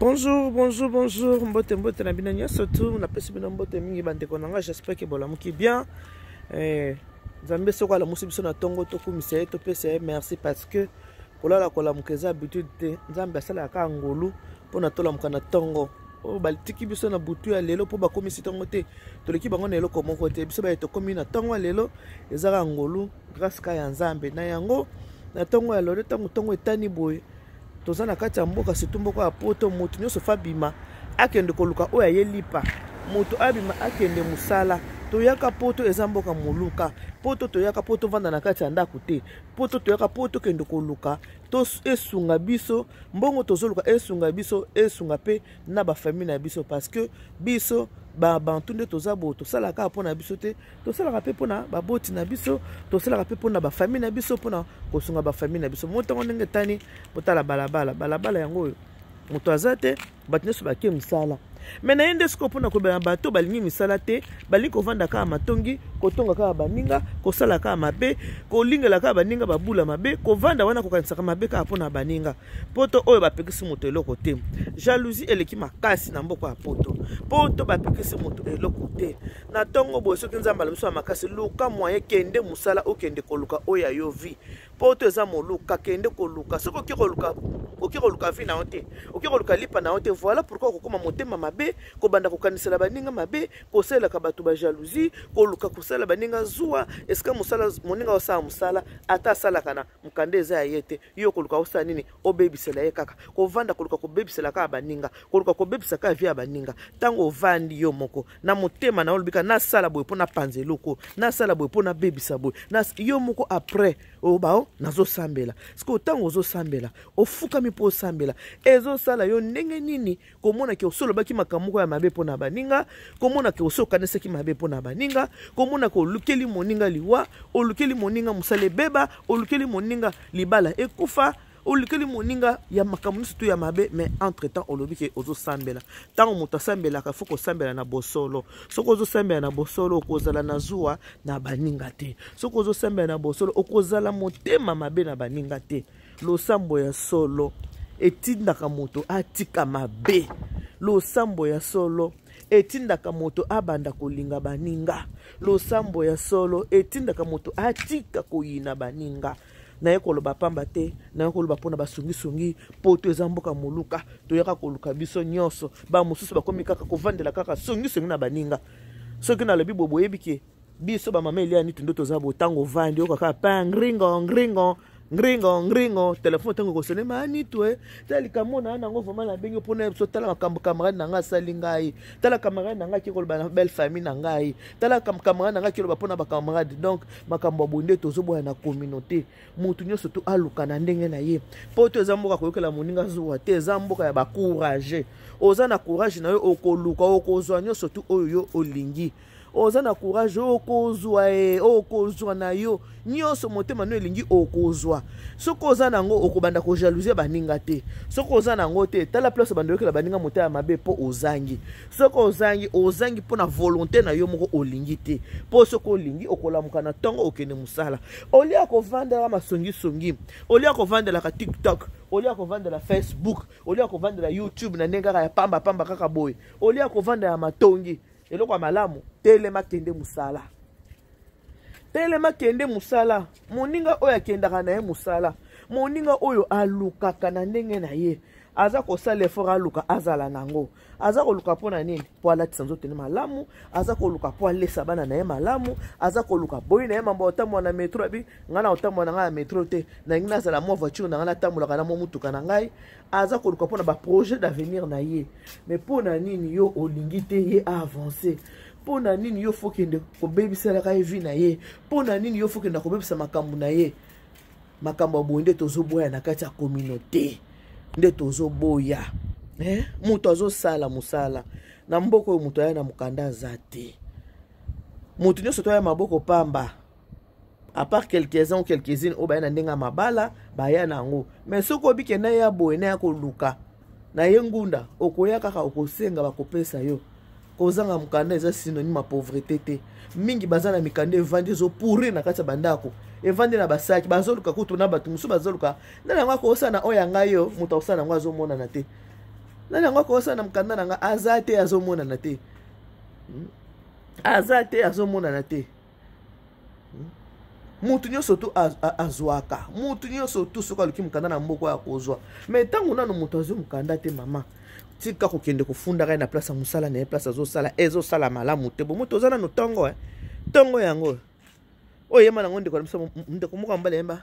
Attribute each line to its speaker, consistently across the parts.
Speaker 1: bonjour bonjour bonjour mbote mbote na bino nyonso tu napesi bino mbote mingi bandeko na ngai j'espère ke bolamuki bien eh, nzambe soko alamusi biso na ntongo tokumisa ye topesa ye merci parce que kolala kolamuka eza habitude te nzambe asalaka kaka ngolu mpo na tolamuka na ntongo oyo oh, batiki biso na butu ya lelo mpo bakomisi ntongo te toleki bango na eloko moko te biso baye tokomi na ntongo ya lelo eza kaka ngolu grace ka ya nzambe na yango na ntongo ya lelo ntango ntongo etani boye toza na kati ya mboka surtout mboka ya poto moto nyonso fa bima akende koluka oyo aye lipa moto abima akende mosala toyaka poto eza mboka moluka poto toyaka po tovanda na kati ya ndako te poto toyaka po tokende koluka to esunga biso mbongo tozoluka esunga biso esunga mpe na bafamile na biso parce que biso babantu nde toza boye tosalaka mpo na biso te tosalaka mpe mpo na baboti na biso tosalaka mpe mpo na bafamille na biso mpo na kosunga bafamille na biso mo ntango ndenge etani botala balabala balabala yango oyo moto aza te bato nyonso bake mosala me na ye nde sikoyo mpona kobela bato balingi misala te balingi kovanda kaka matongi kotonga kaka baninga kosala kaka mabe kolingela kaka baninga babula mabe kovanda wana kokanisaka mabe kaka mpona baninga poto oyo bapekisi moto eloko te jalousie eleki makasi na mboka ya poto poto bapekisi moto eloko te na ntongo boye soki nzambe ala miso ya makasi luka moyen kende mosala okende koluka oyo ya yo vie mpo to eza moluka kende koluka soki oke koluka oke koluka vi na yo te oke koluka lipa na yo te voilà pourkui okokoma motema mabe kobanda kokanisela baninga mabe kosalelaka bato bajalousie koluka kosalela baninga zuwa esika mosala moninga osala mosala ata asalaka na mokanda eza ya ye te yo koluka osala nini obebisela ye kaka kovanda koluka kobebisela kaka baninga koluka kobebisa kaka vie ya baninga ntango ovandi yo moko na motema na yo olobika nasala boye mpo napanza eloko nasala boye mpo nabebisa boye yo moko après obao nazosambela sikoyo ntango ozosambela ofukami mpo osambela ezosala yo ndenge nini komona ke oso olobaki makambo moko ya mabe mpo na baninga komona ke oso okanisaki mabe mpo na baninga komona ke olukeli moninga liwa olukeli moninga mosala ebeba olukeli moninga libala ekufa olukeli moninga ya makambo nyonso to ya mabe mais entre temps olobi ke ozosambela ntango moto asambelaka fo kosambela na bosolo soki ozosambela na bosolo okozala na zuwa na baninga te soki ozosambela na bosolo okozala motema mabe na baninga te losambo ya solo etindaka moto atika mabe losambo ya solo etindaka moto abanda kolinga baninga losambo ya solo etindaka moto atika koyina baninga naye koloba pamba te naye koloba mpona basungisungi poto eza mboka moluka toyaka koluka biso nyonso bamosusu bakomi kaka kovandela kaka songisongi na baninga soki nalobi boye boyebi ke biso bamama elia nitu nde toza bo ntango ovandi oyoka kaka pa ngringo ngringo ngringo ngringo telefone ntango ekosone ma nitu e tala likambo na yango vraimen nabengi mpo na biso tala makambo camarade na ngai asali ngai tala camarade na ngai akekoloba na belle famille na ngai tala camarade na ngai akekoloba mpo na bacamarade donc makambo ya boye nde tozoboya na communauté motu nyonso to aluka na ndenge na ye mpo to eza mboka koyokela moninga zuwa te eza mboka ya bacourage oza na courage na yo okoluka okozwa nyonso tu oyo yo olingi oza na courage okozwa e okozwa na yo nyonso motema no elingi okozwa soki oza na yango okobanda kojalousie baninga te soki oza na yango te tala place obanda oyokela baninga motema ya mabe mpo ozangi soki ozangi ozangi mpo na volonté na yo moko olingi te mpo soki olingi okolamuka na ntongo okende mosala olie ya kovandelaka masongisongi olie ya kovandelaka tiktok olie ya kovandela facebook olie ya kovandela youtube na ndenge kaka ya pamba pamba kaka boye olie ya kovandela matongi eloko ya malamu telema kende mosala telema kende mosala moninga oyo akendaka na ye mosala moninga oyo alukaka na ndenge na ye aza kosala effort aluka azala nango aza koluka mpo na nini mpo alatisa nzoto ne malamu aza koluka mpo alesa bana na ye malamu aza koluka boyi na ye mambo otambola na metro abi ngai na otambola na ngai na metro te nalingi nazala mwa voiture na ngai natambolaka na mwa motuka na ngai aza koluka mpona baprojet d'avenir na ye mais mpo na nini yo olingi te ye aavance mpo na nini yo fokende kobebiselaka ye vi na ye mpo na nini yo fokenda kobebisa makambo na ye makambo ya boye nde tozoboya na kati ya communauté nde tozoboya eh? moto azosala mosala na mboka oyo moto aya na mokanda aza te moto nyonso toya maboko pamba à part quelques-uns ou quelques-unes oyo baya na ndenge ya mabala baya na yango mais soki oyebi ke naye ya boye naye akoluka na ye ngunda okoya kaka okosenga bakopesa yo kozanga mokanda eza synonyme ya pauvrete te mingi baza na mikanda evandi ezopourrir na kati ya bandako evandi na basaki bazoluka kutu na bato mosusu bazoluka nani yango akoosa na oyo ya ngai yo moto akosa na yango azomonana te nani yango akoosa na mokanda na ngai aza te azomonana te hmm? aza te azomonana te motu nyonso tu azwaka motu nyonso tu soki aluki mokanda na mboko ya kozwa mai ntango nano moto azwi mokanda te mama tika kokende kofundaka ye na place ya mosala na ye place azosala ezosala malamu te bomo toza nano ntongo e ntongo yango oyo yema nango ndeko na biso ndeko moko ambala yemba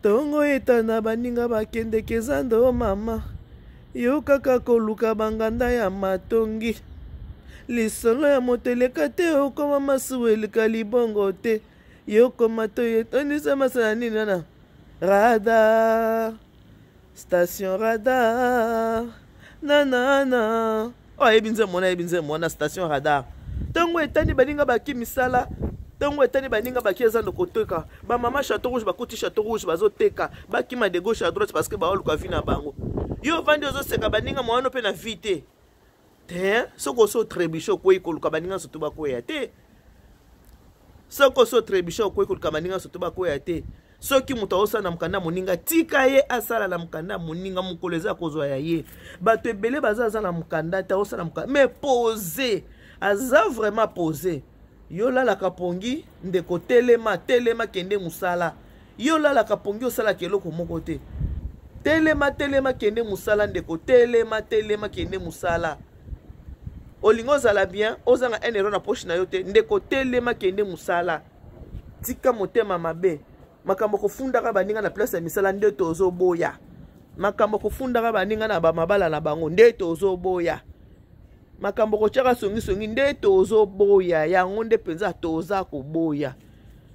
Speaker 1: ntongo hmm. etana baninga bakendeke eza ndo mama Yo kaka koluka banganda ya matongi. Lisolo ya moto eleka te okoma masuwa elika libongo te. Yo koma toye tonisa masala nini wana? Radar. Station radar. Nanana. oyo ayebi nzembo wana ayebi nzembo wana station radar ntango etani baninga baki misala ntango etani baninga baki eza ndo koteka bamama chateau rouge bakuti chateau rouge bazoteka bakima de gauche à droite parce que baoluka vi na bango yo ovandi ozoseka baninga mwana mpe na vi te te soki osi otrebuche okwei koluka baninga nyonso to bakweya te soki osi otrebuche okwei koluka baninga nyonso to bakweya te soki moto aosala na mokanda ya moninga tika ye asala na mokanda ya moninga mokolo eza kozwa ya ye bato ebele baza aza na mokanda te aosala mokanda mais pose aza vraiment pose yo lalaka pongi ndeko telema telema kende mosala yo lalaka pongi osalaka eloko moko te telema telema kende mosala ndeko telema telema kende mosala olingi ozala bien ozanga un euro na poche na yo te ndeko telema kende mosala tika motema mabe makambo kofundaka baninga na place ya misala nde tozoboya makambo kofundaka baninga na bamabala na bango nde tozoboya makambo kotyaka songisongi nde tozoboya yango nde mpenza toza koboya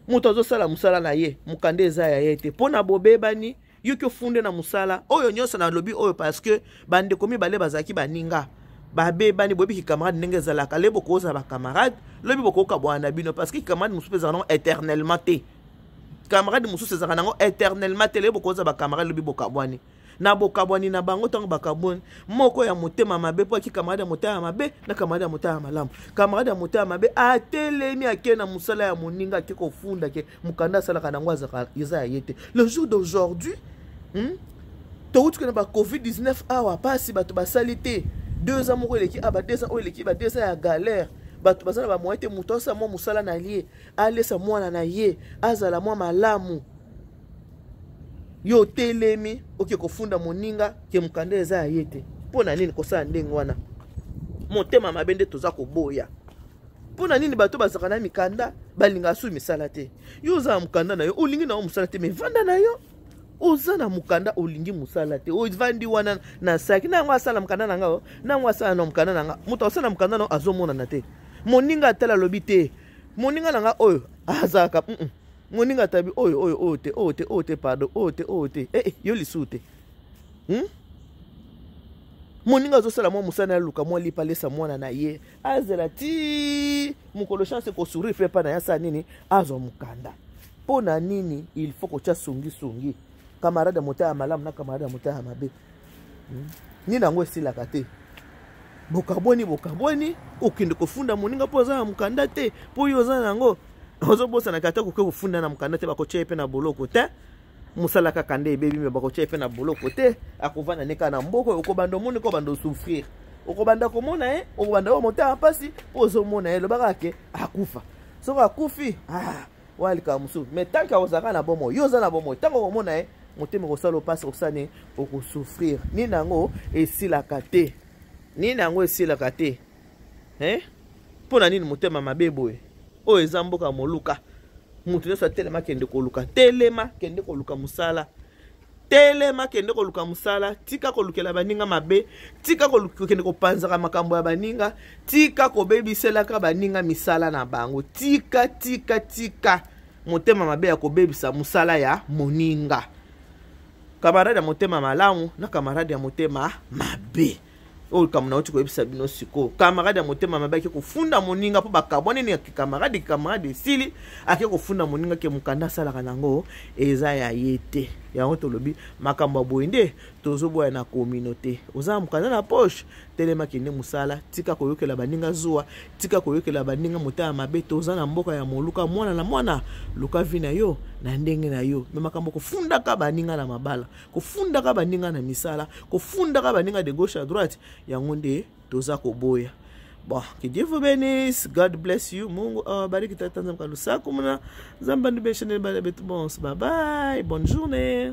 Speaker 1: moto azosala mosala na ye mokanda eza ya ye te mpo na bobebani yo ki ofunde na mosala oyo nyonso nalobi oyo parce que bandeko mibale bazalaki baninga babebani boyebi kicamarade ndenge ezalaka le bokozala bacamarade lobi bokoyoka bwana na bino parce que kicamarade mosusu mpe ezalaka nango éternellement te camarade mosusu ezalaka nango éternellement te le bokozala bacamarade lobi bokabwani na bokabwani na bango ntango bakabwani moko ya motema mabe mpo aki kamarade ya motema mabe na kamarade ya motema malamu kamarade ya motema mabe atelemi ake na mosala ya moninga ake kofunda ke mokanda asalaka nango azaka eza ya ye te le jour d'aujourd'hui hmm? touti kena ba covid 19 awa mpasi bato basali te deux ans moko eleki aba ah, deux ans oyo eleki ba deux ans ya galère bato baza na bamoyen te moto asala mwa mosala na ye alesa mwana na ye azala mwa malamu yo otelemi oke kofunda moninga ke mokanda eza ya ye te mpo na nini kosala ndenge wana motema mabe nde toza koboya mpo na nini bato bazalaka na mikanda balingaka soki misala te yo oza na mokanda na yo olingi na yo mosala te mai vanda na yo oza na mokanda olingi mosala te ovandi wana na saki na yango asala mokanda na nga na yango asala na mokanda na nga moto asala mokanda na yo azomonana te moninga atala alobi te moninga na nga oyo azalaka mm -mm. moninga atabi oyo oyo oyo te oyo te oyo te pardon oyo te oyo te eh, eh yo lisusu te hmm? moninga azosala mwa mosala na luka mwa lipa alesa mwana na ye azela ti mokolo chance ekosourire mpe epai na ye asala nini azwa mokanda mpo na nini il faut kotya songisongi kamarade ya motaya ya malamu na kamarade ya motaya ya mabe hmm? nini yango esilaka te bokabwani bokabwani okende kofunda moninga mpo oza na mokanda te mpo yo oza na yango ozobosanaka ata koke kofunda na mokanda te bakotya ye mpe na boloko te mosala kaka nde ebebi me bakotia epe na boloko te akovanda ne kaka na mboko okobanda omoni ko banda osouffrir okobanda komona ye okobanda oyo motema mpasi mpo ozomona ye lobaka ke akufa soki akufi ah, wana likambo mosusu me tanke akozalaka na bomoi yo oza na bomoi ntango okomona ye motema okosala opasi okosala nini okosouffrir nini yango esilaka te nini yango esilaka te eh? mpo na nini motema mabe boye oyo eza mboka moluka moto nyonso atelema kende koluka telema kende koluka mosala telema kende koluka mosala tika kolukela baninga mabe tika kokende kopanzaka makambo ya baninga tika kobebiselaka baninga misala na bango tika tika tika motema mabe ya kobebisa mosala ya moninga kamarade ya motema malamu na kamarade ya motema mabe oyo likambo nauti koyebisa bino sikoyo kamarade ya motema mabe ake kofunda moninga mpo bakabwani nini ake kamarade kamarade esili ake kofunda moninga ke mokanda asalaka na yango eza ya ye te yango tolobi makambo ya boye nde tozoboya na communauté oza na mokanda na poche telema kende mosala tika koyokela baninga zuwa tika koyokela baninga motema mabe toza na mboka ya moluka mwana na mwana luka vi na yo na ndenge na yo me makambo kofundaka baninga na mabala kofundaka baninga na misala kofundaka baninga de gauche à droite yango nde toza koboya bon que dieu vous bénisse god bless you mungu awabariki oh, tata nzambe kalusaku muna nzambe andubesheneli bana betu bonso babai bonne journée